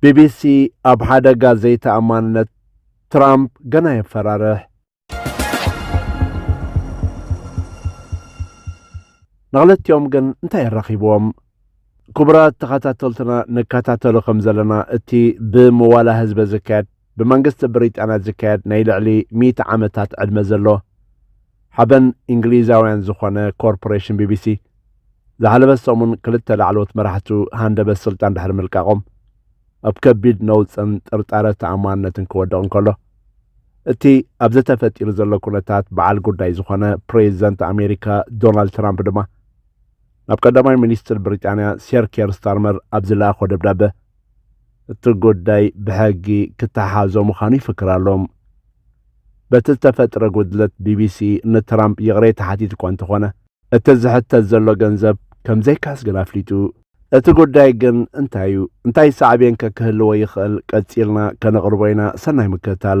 ቢቢሲ፣ ኣብ ሓደጋ ዘይተኣማንነት ትራምፕ ገና የፈራርሕ። ንክልቲኦም ግን እንታይ የራኺብዎም? ክቡራት ተኸታተልትና ንከታተሎ ከም ዘለና እቲ ብመዋላ ህዝበ ዝካየድ ብመንግስቲ ብሪጣንያ ዝካየድ ናይ ልዕሊ ሚእቲ ዓመታት ዕድመ ዘሎ ሓበን እንግሊዛውያን ዝኾነ ኮርፖሬሽን ቢቢሲ ዝሓለፈ ሰሙን ክልተ ላዕለዎት መራሕቱ ሃንደበት ስልጣን ድሕሪ ምልቃቖም ኣብ ከቢድ ነውፅን ጥርጣረ ተኣማንነትን ክወድቕ እንከሎ እቲ ኣብዚ ተፈጢሩ ዘሎ ኩነታት በዓል ጉዳይ ዝኾነ ፕሬዚደንት ኣሜሪካ ዶናልድ ትራምፕ ድማ ናብ ቀዳማይ ሚኒስትር ብሪጣንያ ሴር ኬር ስታርመር ኣብ ዝለኣኾ ደብዳበ እቲ ጉዳይ ብሕጊ ክተሓዞ ምዃኑ ይፍክር ኣሎ። በቲ ዝተፈጥረ ጉድለት ቢቢሲ ንትራምፕ ይቕሬታ ሓቲቱ'ኳ እንተኾነ፣ እቲ ዝሕተት ዘሎ ገንዘብ ከምዘይክሕስ ግን ኣፍሊጡ። እቲ ጉዳይ ግን እንታይ'ዩ? እንታይ ሳዕቤንከ ክህልዎ ይኽእል? ቀጺልና ከነቕርቦ ኢና። ሰናይ ምክትታል!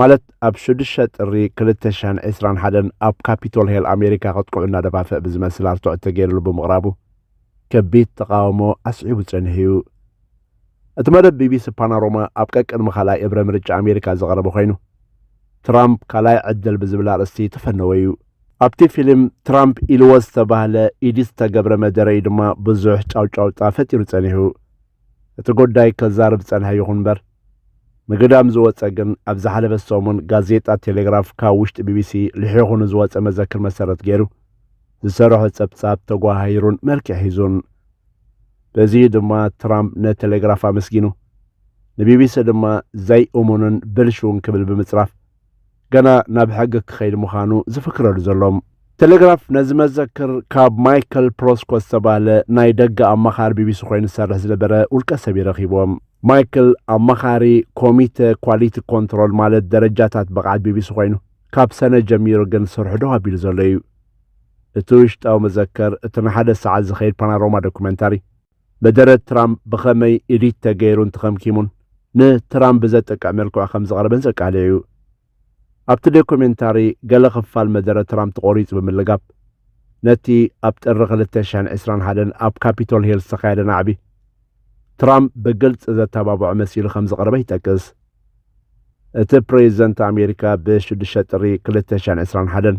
ማለት ኣብ ሽዱሽተ ጥሪ ክልተ ሽሕን ዕስራን ሓደን ኣብ ካፒቶል ሄል ኣሜሪካ ከጥቅዑ እናደፋፍእ ብዝመስል ኣርትዖት ተገይርሉ ብምቕራቡ ከቢድ ተቓውሞ ኣስዒቡ ጸኒሑ'ዩ። እቲ መደብ ቢቢሲ ፓናሮማ ኣብ ቀቅድሚ ካልኣይ እብረ ምርጫ ኣሜሪካ ዝቐረበ ኮይኑ፣ ትራምፕ ካልኣይ ዕድል ብዝብል ኣርእስቲ ተፈነወ'ዩ። ኣብቲ ፊልም ትራምፕ ኢልዎ ዝተባህለ ኢዲት ዝተገብረ መደረ'ዩ ድማ ብዙሕ ጫውጫውታ ፈጢሩ ጸኒሑ። እቲ ጎዳይ ከዛርብ ዝጸንሐ ይኹን እምበር፣ ንግዳም ዝወጸ ግን ኣብ ዝሓለፈ ሰሙን ጋዜጣ ቴሌግራፍ ካብ ውሽጢ ቢቢሲ ልሒኹ ንዝወጸ መዘክር መሰረት ገይሩ ዝሰርሖ ጸብጻብ ተጓሃሂሩን መልክዕ ሒዙን። በዚ'ዩ ድማ ትራምፕ ንቴሌግራፍ ኣመስጊኑ፣ ንቢቢሲ ድማ ዘይእሙንን ብልሹውን ክብል ብምጽራፍ ገና ናብ ሕጊ ክኸይድ ምዃኑ ዝፍክረሉ ዘሎ። ቴሌግራፍ ነዚ መዘክር ካብ ማይከል ፕሮስኮ ዝተባህለ ናይ ደገ ኣማኻሪ ቢቢሲ ኮይኑ ዝሰርሕ ዝነበረ ውልቀ ሰብ እዩ ረኺብዎ። ማይክል ኣማኻሪ ኮሚተ ኳሊቲ ኮንትሮል ማለት ደረጃታት ብቕዓት ቢቢሲ ኮይኑ ካብ ሰነ ጀሚሩ ግን ስርሑ ደው ኣቢሉ ዘሎ እዩ። እቲ ውሽጣዊ መዘከር እቲ ንሓደ ሰዓት ዝኸይድ ፓናሮማ ዶኩመንታሪ፣ መደረት ትራም ብኸመይ ኤዲት ተገይሩን ተኸምኪሙን ንትራም ብዘጥቅዕ መልክዑ ከም ዝቐረበን ዘቃልዕ እዩ። ኣብቲ ዶኩሜንታሪ ገለ ክፋል መደረ ትራም ተቖሪጹ ብምልጋብ፣ ነቲ ኣብ ጥሪ ክልተ ሽሕን ዕስራን ሓደን ኣብ ካፒቶል ሂል ዝተኻየደ ናዕቢ ትራም ብግልጺ ዘተባብዖ መሲሉ ከም ዝቐረበ ይጠቅስ። እቲ ፕሬዚደንት ኣሜሪካ ብሽዱሽተ ጥሪ ክልተ ሽሕን ዕስራን ሓደን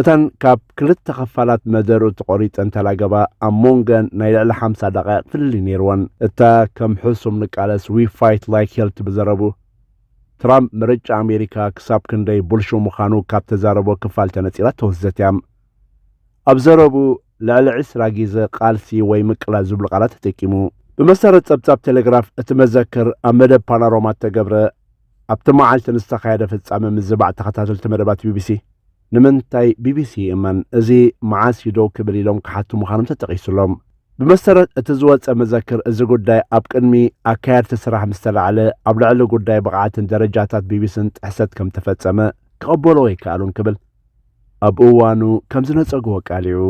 እተን ካብ ክልተ ኸፋላት መደርኡ ተቖሪጸን ተላገባ፣ ኣብ ሞንገን ናይ ልዕሊ ሓምሳ ደቓይቕ ፍልልይ ነይርወን። እታ ከም ሕሱም ንቃለስ We Fight Like Hell ትብል ዘረቡ፣ ትራምፕ ምርጫ ኣሜሪካ ክሳብ ክንደይ ቡልሹው ምዃኑ ካብ ተዛረቦ ክፋል ተነጺላ እተወስደት እያ። ኣብ ዘረቡ ልዕሊ ዕስራ ጊዘ ቃልሲ ወይ ምቅላስ ዝብሉ ቃላት ተጠቂሙ። ብመሰረት ጸብጻብ ቴሌግራፍ እቲ መዘክር ኣብ መደብ ፓናሮማ እተገብረ፣ ኣብቲ መዓልቲ ንዝተኻየደ ፍጻመ ምዝባዕ ተኸታተልቲ መደባት ቢቢሲ፣ ንምንታይ ቢቢሲ ይእመን፣ እዚ መዓስ እዩ ደው ክብል ኢሎም ክሓቱ ምዃኖም ተጠቒሱ ኣሎ። ብመሰረት እቲ ዝወጸ መዘክር፣ እዚ ጉዳይ ኣብ ቅድሚ ኣካየድቲ ስራሕ ምስ ተላዕለ፣ ኣብ ልዕሊ ጉዳይ ብቕዓትን ደረጃታት ቢቢሲን ጥሕሰት ከም እተፈጸመ ክቕበልዎ ኣይከኣሉን ክብል ኣብ እዋኑ ከም ዝነጸግዎ ኣቃሊዑ።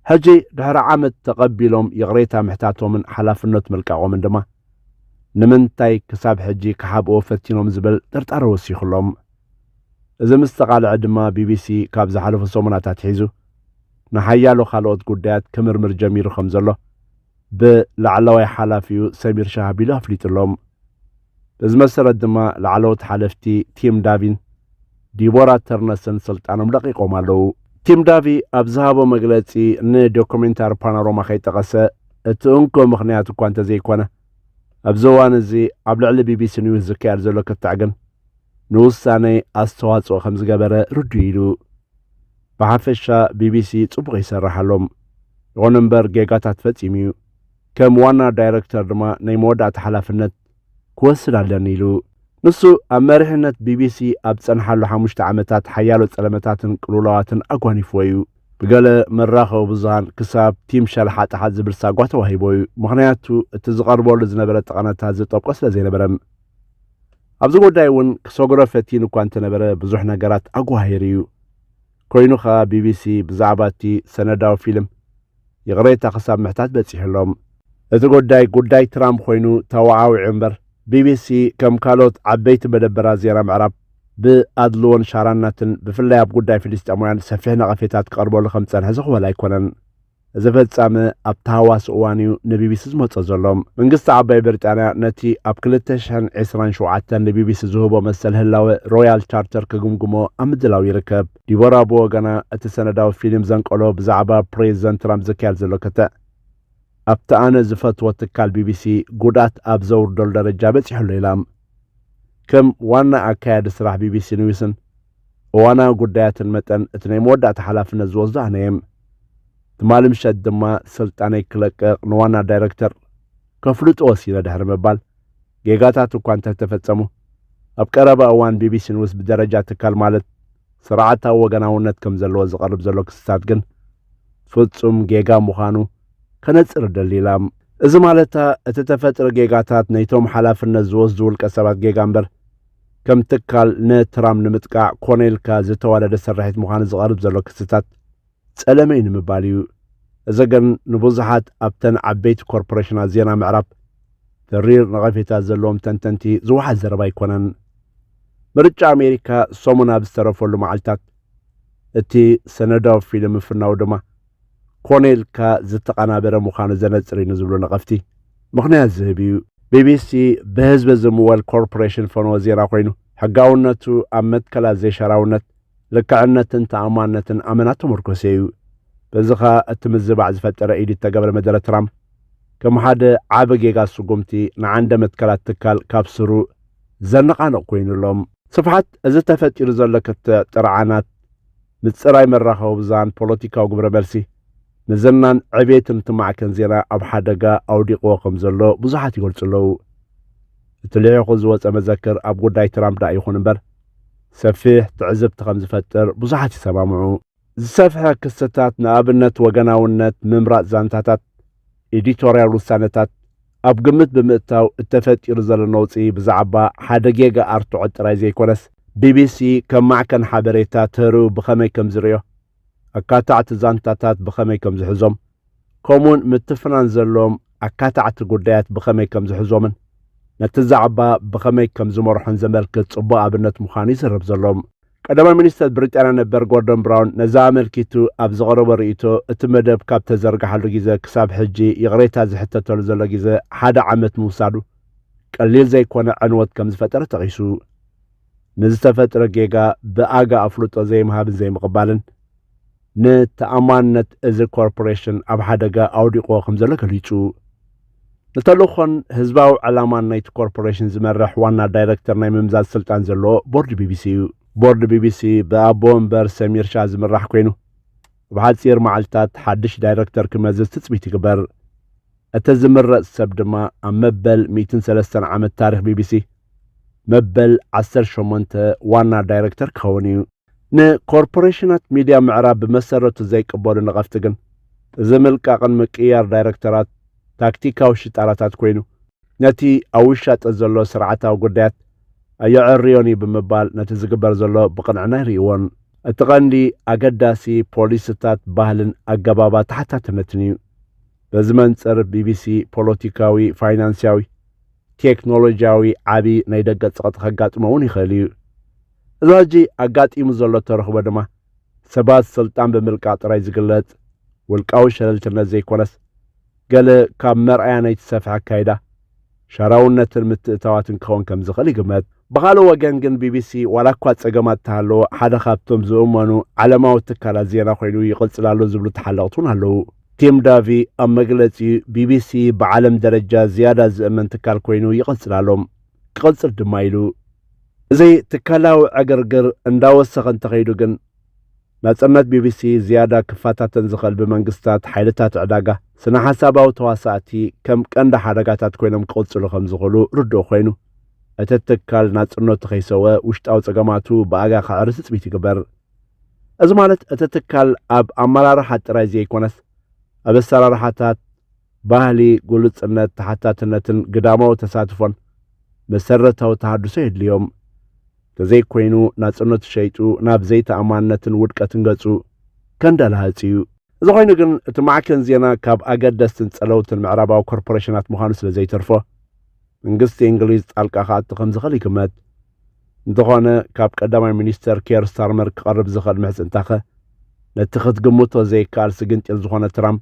ሕጂ ድሕሪ ዓመት ተቐቢሎም ይቕሬታ ምሕታቶምን ሓላፍነት ምልቃቖምን ድማ ንምንታይ ክሳብ ሕጂ ክሓብእዎ ፈቲኖም ዝብል ጥርጣረ ወሲኹሎም። እዚ ምስ ተቓልዐ ድማ ቢቢሲ ካብ ዝሓለፉ ሰሙናት ኣትሒዙ ንሓያሎ ካልኦት ጉዳያት ክምርምር ጀሚሩ ከም ዘሎ ብ ላዕላዋይ ሓላፊኡ ሰሚር ሻሃቢሎ ኣፍሊጡሎም። በዚ መሰረት ድማ ላዕለዎት ሓለፍቲ ቲም ዳቪን ዲቦራ ተርነሰን ስልጣኖም ለቒቖም ኣለዉ። ቲም ዳቪ ኣብ ዝሃቦ መግለጺ ን ዶኮሜንታሪ ፓናሮማ ከይጠቐሰ እቲ እንኮ ምኽንያት እኳ እንተዘይኮነ ኣብዚ እዋን እዚ ኣብ ልዕሊ ቢቢሲ ኒውስ ዝካየድ ዘሎ ክትዕ ግን ንውሳነይ ኣስተዋጽኦ ከምዝገበረ ርዱእ ኢዩ ኢሉ። ብሓፈሻ ቢቢሲ ጽቡቕ ይሰርሕ ኣሎ። ይኹን እምበር ጌጋታት ፈጺሙ እዩ። ከም ዋና ዳይረክተር ድማ ናይ መወዳእታ ሓላፍነት ክወስድ ኣለኒ ኢሉ። ንሱ ኣብ መሪሕነት ቢቢሲ ኣብ ዝጸንሓሉ ሓሙሽተ ዓመታት ሓያሎ ጸለመታትን ቅልውላዋትን ኣጓኒፍዎ እዩ። ብገለ መራኸቢ ብዙሃን ክሳብ ቲም ሸልሓጥሓጥ ዝብል ሳጓ ተዋሂቦ እዩ፣ ምኽንያቱ እቲ ዝቐርበሉ ዝነበረ ጠቐነታት ዝጠብቆ ስለ ዘይነበረ። ኣብዚ ጉዳይ እውን ክሰግሮ ፈቲኑ እኳ እንተነበረ ብዙሕ ነገራት ኣጓሂሩ እዩ። ኮይኑ ከኣ ቢቢሲ ብዛዕባ እቲ ሰነዳዊ ፊልም ይቕሬታ ክሳብ ምሕታት በጺሑ'ሎም። እቲ ጉዳይ ጉዳይ ትራምፕ ኮይኑ ተወዓዊዑ እምበር ቢቢሲ ከም ካልኦት ዓበይቲ መደበራት ዜና ምዕራብ ብኣድልዎን ሻራናትን ብፍላይ ኣብ ጉዳይ ፍልስጤማውያን ሰፊሕ ነቐፌታት ክቐርበሉ ከም ዝጸንሐ ዝኹበል ኣይኮነን። እዚ ፈጻሚ ኣብ ተሃዋሲ እዋን እዩ ንቢቢሲ ዝመጾ ዘሎ። መንግስቲ ዓባይ ብሪጣንያ ነቲ ኣብ ክልተ ሽሕን ዕስራን ሸውዓተን ንቢቢሲ ዝህቦ መሰል ህላወ ሮያል ቻርተር ክግምግሞ ኣብ ምድላው ይርከብ። ዲቦራ ብወገና እቲ ሰነዳዊ ፊልም ዘንቀሎ ብዛዕባ ፕሬዚደንት ትራምፕ ዝካየድ ዘሎ ክትዕ ኣብቲ ኣነ ዝፈትዎ ትካል ቢቢሲ ጉድኣት ኣብ ዘውርደሉ ደረጃ በጺሑ ኣሎ ኢላ። ከም ዋና ኣካያዲ ስራሕ ቢቢሲ ኒውስን እዋናዊ ጉዳያትን መጠን እቲ ናይ መወዳእታ ሓላፍነት ዝወስዶ ኣነ እየ። ትማሊ ምሸት ድማ ስልጣነይ ክለቅቕ ንዋና ዳይረክተር ከፍልጦ ወሲነ ድሕሪ ምባል፣ ጌጋታት እኳ እንተተፈጸሙ፣ ኣብ ቀረባ እዋን ቢቢሲ ኒውስ ብደረጃ ትካል ማለት ስርዓታዊ ወገናውነት ከም ዘለዎ ዝቐርብ ዘሎ ክስታት ግን ፍጹም ጌጋ ምዃኑ ከነጽር እደሊ ኢላ። እዚ ማለታ እቲ ተፈጥሪ ጌጋታት ነይቶም ሓላፍነት ዝወስዱ ውልቀሰባት ጌጋ እምበር ከም ትካል ንትራም ንምጥቃዕ ኮነ ኢልካ ዝተዋደደ ስርሒት ምዃኑ ዝቐርብ ዘሎ ክስታት ጸለመ እዩ ንምባል እዩ። እዚ ግን ንብዙሓት ኣብተን ዓበይቲ ኮርፖሬሽናት ዜና ምዕራብ ተሪር ነቐፌታ ዘለዎም ተንተንቲ ዝወሓድ ዘረባ ኣይኮነን። ምርጫ ኣሜሪካ ሰሙን ኣብ ዝተረፈሉ መዓልታት እቲ ሰነዳዊ ፊልም ምፍናዉ ድማ ኮነ ኢልካ ዝተቐናበረ ምዃኑ ዘነጽር እዩ ንዝብሉ ነቐፍቲ ምኽንያት ዝህብ እዩ። ቢቢሲ ብህዝቢ ዝምወል ኮርፖሬሽን ፈነወ ዜና ኮይኑ፣ ሕጋውነቱ ኣብ መትከላት ዘይሻራውነት፣ ልክዕነትን ተኣማንነትን ኣመና እተመርኮሰ እዩ። በዚ ከኣ እቲ ምዝባዕ ዝፈጠረ ኢዱ እተገብረ መደረ ትራምፕ ከም ሓደ ዓቢ ጌጋ ስጉምቲ ንዓንደ መትከላት ትካል ካብ ስሩ ዘነቓንቕ ኮይኑ ኣሎ። ስፍሓት እዚ ተፈጢሩ ዘሎ ክትዕ ጥርዓናት ምጽራይ መራኸቢ ብዙሃን ፖለቲካዊ ግብረ መልሲ ንዝናን ዕቤትን እቲ ማዕከን ዜና ኣብ ሓደጋ ኣውዲቕዎ ከም ዘሎ ብዙሓት ይገልጹ ኣለዉ። እቲ ልሒኹ ዝወጸ መዘክር ኣብ ጉዳይ ትራምፕ ደኣ ይኹን እምበር ሰፊሕ ትዕዝብቲ ከም ዝፈጥር ብዙሓት ይሰማምዑ። ዝሰፍሐ ክስታት፣ ንኣብነት ወገናውነት፣ ምምራጽ ዛንታታት፣ ኤዲቶርያል ውሳነታት ኣብ ግምት ብምእታው እተፈጢሩ ዘሎ ነውጺ ብዛዕባ ሓደ ጌጋ ኣርትዖት ጥራይ ዘይኮነስ፣ ቢቢሲ ከም ማዕከን ሓበሬታ ተርኡ ብኸመይ ከም ዝርእዮ፣ ኣካታዕቲ ዛንታታት ብኸመይ ከም ዝሕዞም፣ ከምኡውን ምትፍናን ዘለዎም ኣካታዕቲ ጉዳያት ብኸመይ ከም ዝሕዞምን ነቲ ዛዕባ ብኸመይ ከም ዝመርሖን ዘመልክት ጽቡቕ ኣብነት ምዃኑ ይዝረብ ዘሎ። ቀዳማይ ሚኒስተር ብሪጣንያ ነበር ጎርዶን ብራውን ነዚ ኣመልኪቱ ኣብ ዘቕረቦ ርእይቶ፣ እቲ መደብ ካብ ተዘርግሓሉ ግዜ ክሳብ ሕጂ ይቕሬታ ዝሕተተሉ ዘሎ ግዜ ሓደ ዓመት ምውሳዱ ቀሊል ዘይኮነ ዕንወት ከም ዝፈጠረ ጠቒሱ፣ ንዝተፈጥረ ጌጋ ብኣጋ ኣፍልጦ ዘይምሃብን ዘይምቕባልን፣ ንተኣማንነት እዚ ኮርፖሬሽን ኣብ ሓደጋ ኣውዲቕዎ ከምዘሎ ገሊጹ። ንተልእኾን ህዝባዊ ዕላማን ናይቲ ኮርፖሬሽን ዝመርሕ ዋና ዳይረክተር ናይ ምምዛዝ ስልጣን ዘለዎ ቦርድ ቢቢሲ እዩ። ቦርድ ቢቢሲ ብኣቦ ወንበር ሰሚር ሻህ ዝምራሕ ኰይኑ፣ ኣብ ሓጺር መዓልታት ሓድሽ ዳይረክተር ክመዝዝ ትጽቢት ይግበር። እቲ ዝምረጽ ሰብ ድማ ኣብ መበል ሚእትን ሰለስተን ዓመት ታሪኽ ቢቢሲ መበል ዓሰርተ ሸሞንተ ዋና ዳይረክተር ክኸውን እዩ። ንኮርፖሬሽናት ሚድያ ምዕራብ ብመሰረቱ ዘይቅበሉ ነቐፍቲ ግን፣ እዚ ምልቃቕን ምቅይያር ዳይረክተራት ታክቲካዊ ሽጣራታት ኮይኑ፣ ነቲ ኣብ ውሻጠ ዘሎ ስርዓታዊ ጉዳያት ኣየዐርዮን'ዩ ብምባል ነቲ ዝግበር ዘሎ ብቕንዕና ኣይርእይዎን። እቲ ቀንዲ ኣገዳሲ ፖሊሲታት ባህልን ኣገባብ ኣተሓታትነትን'ዩ። በዚ መንጽር ቢቢሲ ፖለቲካዊ፣ ፋይናንስያዊ፣ ቴክኖሎጂያዊ ዓቢ ናይ ደገ ጸቕጢ ከጋጥሞ'ውን ይኽእል'ዩ። እዚ ሕጂ ኣጋጢሙ ዘሎ ተረኽቦ ድማ ሰባት ስልጣን ብምልቃ ጥራይ ዝግለጽ ውልቃዊ ሸለልትነት ዘይኮነስ፣ ገለ ካብ መርኣያ ናይቲ ሰፍሒ ኣካይዳ ሻራውነትን ምትእታዋትን ክኸውን ከም ዝኽእል ይግመት። ብኻልእ ወገን ግን ቢቢሲ ዋላ እኳ ጸገማት እተሃለዎ ሓደ ካብቶም ዝእመኑ ዓለማዊ ትካላት ዜና ኮይኑ ይቕጽል ኣሎ ዝብሉ ተሓለቕቲ እውን ኣለዉ። ቲም ዳቪ ኣብ መግለጺኡ፣ ቢቢሲ ብዓለም ደረጃ ዝያዳ ዝእመን ትካል ኮይኑ ይቕጽል ኣሎ። ክቕጽል ድማ ኢሉ። እዚ ትካላዊ ዕግርግር እንዳወሰኸ እንተኸይዱ ግን፣ ናጽነት ቢቢሲ ዝያዳ ክፈታተን ዝኽእል ብመንግስታት፣ ሓይልታት ዕዳጋ፣ ስነ-ሓሳባዊ ተዋሳእቲ ከም ቀንዲ ሓደጋታት ኮይኖም ክቕጽሉ ከም ዝኽእሉ ርዱእ ኮይኑ፣ እቲ ትካል ናጽነቱ ከይሰውኣ ውሽጣዊ ጸገማቱ ብኣጋ ከዕሪ ትጽቢት ይግበር። እዚ ማለት እቲ ትካል ኣብ ኣመራርሓ ጥራይ ዘይኮነስ ኣብ ኣሰራርሓታት፣ ባህሊ ግሉጽነት፣ ተሓታትነትን ግዳማዊ ተሳትፎን መሰረታዊ ተሃድሶ የድልዮም። ተዘይኮይኑ ናጽነቱ ሸይጡ ናብ ዘይተኣማንነትን ውድቀትን ገጹ ከንደላህጽ እዩ። እዚ ኮይኑ ግን እቲ ማዕከን ዜና ካብ ኣገደስትን ጸለውትን ምዕራባዊ ኮርፖረሽናት ምዃኑ ስለ ዘይተርፎ መንግስቲ እንግሊዝ ጣልቃ ክኣቱ ከም ዝኽእል ይግመት። እንተኾነ ካብ ቀዳማይ ሚኒስተር ኬር ስታርመር ክቐርብ ዝኽእል ምሕጽንታኸ ነቲ ክትግምቶ ዘይከኣል ስግንጢር ዝኾነ ትራምፕ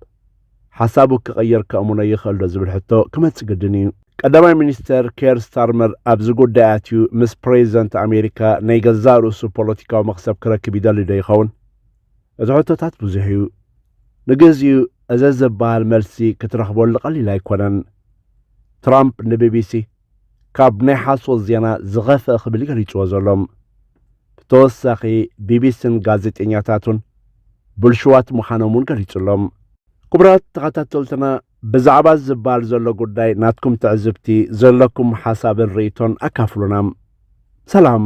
ሓሳቡ ክቕይር ከእምኖ ይኽእልዶ ዝብል ሕቶ ክመጽእ ግድን እዩ። ቀዳማይ ሚኒስተር ኬር ስታርመር ኣብዚ ጉዳይ ኣትዩ ምስ ፕሬዚደንት ኣሜሪካ ናይ ገዛእ ርእሱ ፖለቲካዊ መኽሰብ ክረክብ ይደሊዶ ይኸውን? እቲ ሕቶታት ብዙሕ እዩ። ንግዚኡ እዘ ዝበሃል መልሲ ክትረኽበሉ ቀሊል ኣይኮነን። ትራምፕ ንቢቢሲ። ካብ ናይ ሓሶት ዜና ዝኸፍኣ ክብል ገሊጽዎ ዘሎ። ብተወሳኺ ቢቢሲን ጋዜጠኛታቱን ብልሹዋት ምዃኖም እውን ገሊጹ ኣሎ። ክቡራት ተኸታተልትና ብዛዕባ እዚ ዝብሃል ዘሎ ጉዳይ ናትኩም ትዕዝብቲ፣ ዘለኩም ሓሳብን ርእይቶን ኣካፍሉና። ሰላም!